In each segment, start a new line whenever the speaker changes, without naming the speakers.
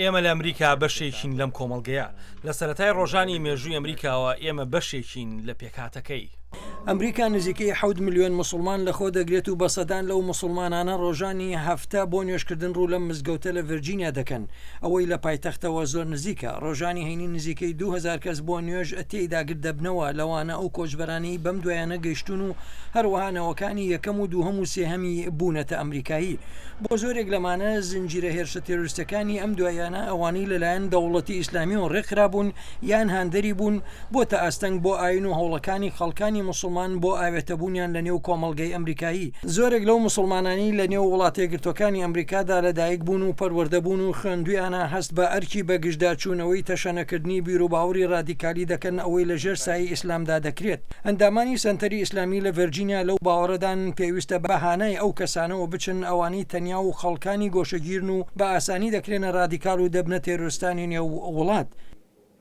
ئێمە لە ئەمریکا
بەشێکین لەم کۆمەڵگەیە. لە سەرەتای ڕۆژانی مێژووی ئەمریکاوە ئێمە بەشێکین لە پێکهاتەکەی. ئەمریکا
نزیکەی حەوت ملیۆن موسڵمان لەخۆ دەگرێت و بە سەدان لەو موسڵمانانە ڕۆژانی هەفتە بۆ نوێژکردن ڕوو لەم مزگەوتە لە ڤێرجینیا دەکەن. ئەوەی لە پایتەختەوە زۆر نزیکە، ڕۆژانی هەینی نزیکەی دوو هەزار کەس بۆ نوێژ تێیدا گرد دەبنەوە، لەوانە ئەو کۆچبەرانەی بەم دوایانە گەیشتوون و هەروەها نەوەکانی یەکەم و دووهەم و سێهەمی بوونەتە ئەمریکایی. بۆ زۆرێک لەمانە زنجیرە هێرشە تێرۆریستیەکانی ئەم دواییانە ئەوانەی لەلایەن دەوڵەتی ئیسلامیەوە ڕێکخرابوون یان هاندەری بوون، بۆتە ئاستەنگ بۆ ئایین و هەوڵەکانی خەڵکانی موسڵمان بۆ ئاوێتەبوونیان لەنێو کۆمەڵگەی ئەمریکایی. زۆرێک لەو موسڵمانانەی لە نێو وڵاتە یەکگرتووەکانی ئەمریکادا لە دایک بوون و پەروەردە بوون و خوێندوویانە هەست بە ئەرکی بە گژدا چوونەوەی تەشەنەکردنی بیروباوڕی ڕادیکالی دەکەن ئەوەی لە ژێر سایەی ئیسلامدا دەکرێت. ئەندامانی سەنتەری ئیسلامی لە ڤێرجینیا لەو باوەڕەدان پێویستە بە هانای ئەو کەسانەوە بچن ئەوانەی تەنیا و خەڵکانی گۆشەگیرن و بە ئاسانی دەکرێنە ڕادیکال و دەبنە تێرۆرستانی نێو وڵات.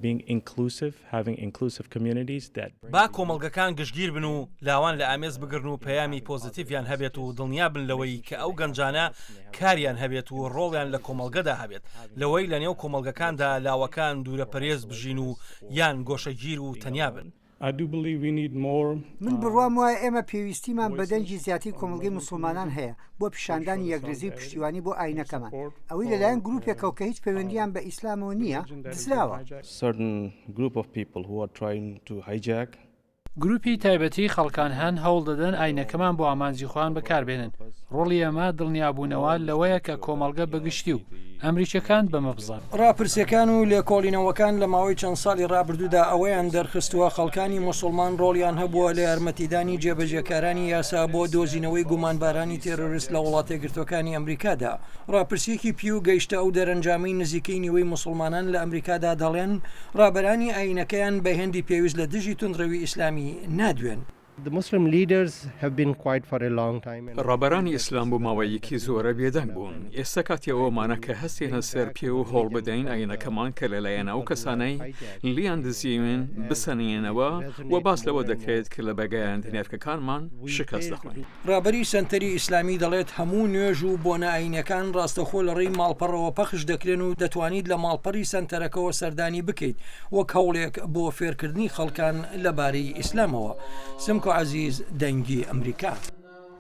Being inclusive, having
inclusive communities that bring. با کۆمەڵگەکان گشتگیر بن و لاوان لە ئامێز بگرن و پەیامی پۆزەتیڤیان هەبێت و دڵنیا بن لەوەی کە ئەو گەنجانە کاریان هەبێت و ڕۆڵیان لە کۆمەڵگەدا هەبێت لەوەی لەنێو کۆمەڵگەکاندا لاوەکان دوورە پەرێز بژین و یان گۆشەگیر و تەنیا بن. من
بڕوام وایە ئێمە پێویستیمان بە دەنگی زیاتری کۆمەڵگەی موسڵمانان هەیە بۆ پیشاندانی یەکرێزی و پشتیوانی بۆ ئاینەکەمان ئەوەی لەلایەن گروپێکەوە کە هیچ پەیوەندیان بە ئیسلامەوە نییە دزراوە.
گروپی تایبەتی خەڵکان هەن هەوڵ دەدەن ئاینەکەمان بۆ ئامانجی خۆیان بەکاربێنن ڕۆڵی ئێمە دڵنیابوونەوە لەوەیە کە کۆمەڵگە بەگشتی و ئەمریکیەکان بەمە بزانن. ڕاپرسیەکان و
لێکۆڵینەوەکان لە ماوەی چەند ساڵی ڕابردوودا ئەوەیان دەرخستووە خەڵکانی موسوڵمان ڕۆڵیان هەبووە لە یارمەتیدانی جێبەجێکارانی یاسا بۆ دۆزینەوەی گومانبارانی تێرۆریست لە وڵاتەیەکگرتووەکانی ئەمریکادا. ڕاپرسیەکی پیو گەیشتە ئەو دەرەنجامەی نزیکەی نیوەی موسوڵمانان لە ئەمریکادا دەڵێن ڕابەرانی ئایینەکەیان بە هێندی پێویست لە دژی توندڕەوی ئیسلامی نادوێن.
ڕابەرانی ئیسلام بۆ ماوەیەکی زۆرە بێدەنگ بوون، ئێستا کاتی ئەوەمانە کە هەستێنە سەر پێ و هەوڵ بدەین ئایینەکەمان کە لەلایەن ئەو کەسانەی لێیان دزیوین بسەنێنەوە و باس لەوە دەکرێت کە لە بەگایەندی نرخەکانمان شکست دەخۆین. ڕابەری سەنتەری
ئیسلامی دەڵێت، هەموو نوێژ و بۆنە ئایینیەکان ڕاستەخۆ لەڕێی ماڵپەڕەوە پەخش دەکرێن و دەتوانیت لە ماڵپەڕی سەنتەرەکەوە سەردانی بکەیت وەک هەوڵێک بۆ فێرکردنی خەڵکان لەبارەی ئیسلامەوە، سمکۆ عەزیز، دەنگی ئەمریکا.